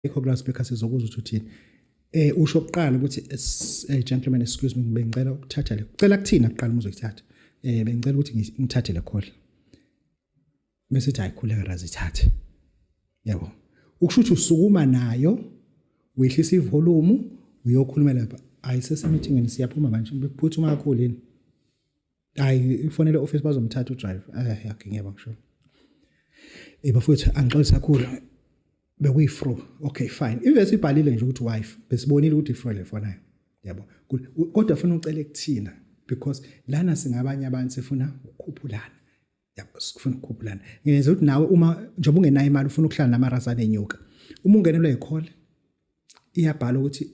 ikho kula speaker sizokuzwa ukuthi uthini eh usho oqala ukuthi eh, gentlemen excuse me bengicela ukuthatha le ucela kuthina kuqala uma uzoyithatha eh bengicela ukuthi ngithathe le call bese uthi ayikhuleka razithathe yabo ukusho ukuthi usukuma nayo wehlisa ivolume uyokhulumela ayisese meeting siyaphuma manje bekuphutha uma kakhulu yini hayi ifonele office bazomthatha udrive eh yakhe ngiyaba ngisho eh bafowethu angixolisa kakhulu bekuyi fro okay fine ivesi ibhalile nje ukuthi wife besibonile ukuthi ifro le fonayo yabo kodwa ufuna ucela ekuthina because lana singabanye abantu sifuna ukukhuphulana yabo sifuna ukukhuphulana ngenza ukuthi nawe uma njengoba ungenayo imali ufuna ukuhlala namarasa nenyuka uma ungenelwa yikhole iyabhala ukuthi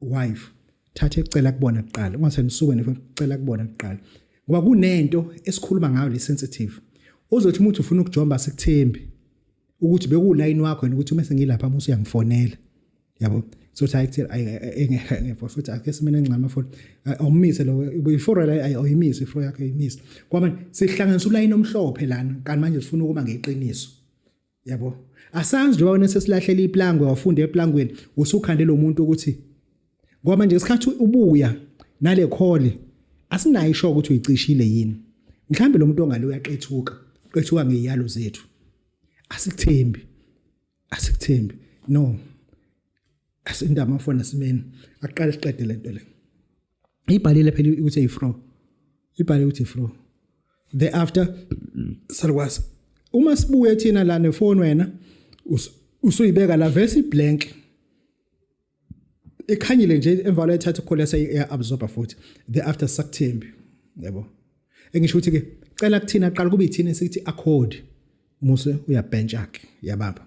wife thatha ecela kubona kuqala ungathe nisuke nifela kubona kuqala ngoba kunento esikhuluma ngayo le sensitive uzothi umuntu ufuna ukujomba sikuthembi ukuthi bekulayini wakho yena ukuthi uma sengilapha musu uyangifonela yabo so cha ekuthi engekho futhi ake simene ngcama for awumise lo before la ayimise ifro yakhe ayimise kwamanje sihlanganisa ulayini omhlophe lana kanti manje sifuna ukuba ngeqiniso yabo asazi njengoba wena sesilahlele iplangwe wafunda eplangweni usukhande lo muntu ukuthi ngoba manje ngesikhathi ubuya nale khole asinayo isho ukuthi uyicishile yini mhlawumbe lo muntu ongale uyaqethuka qethuka ngeyalo zethu asikuthembi asikuthembi no asindama mfana simeni aqale siqede lento le ibhalile phela ukuthi ifro ibhale ukuthi ifro the after salukwazi uma sibuye thina la nefoni wena usuyibeka la vese iblank ikhanyile nje emva kwalo ethatha ukhola seya absorber futhi the after sakuthembi yabo engisho ukuthi ke cela kuthina qala kube ithina sithi accord muse uyabench yakhe yababa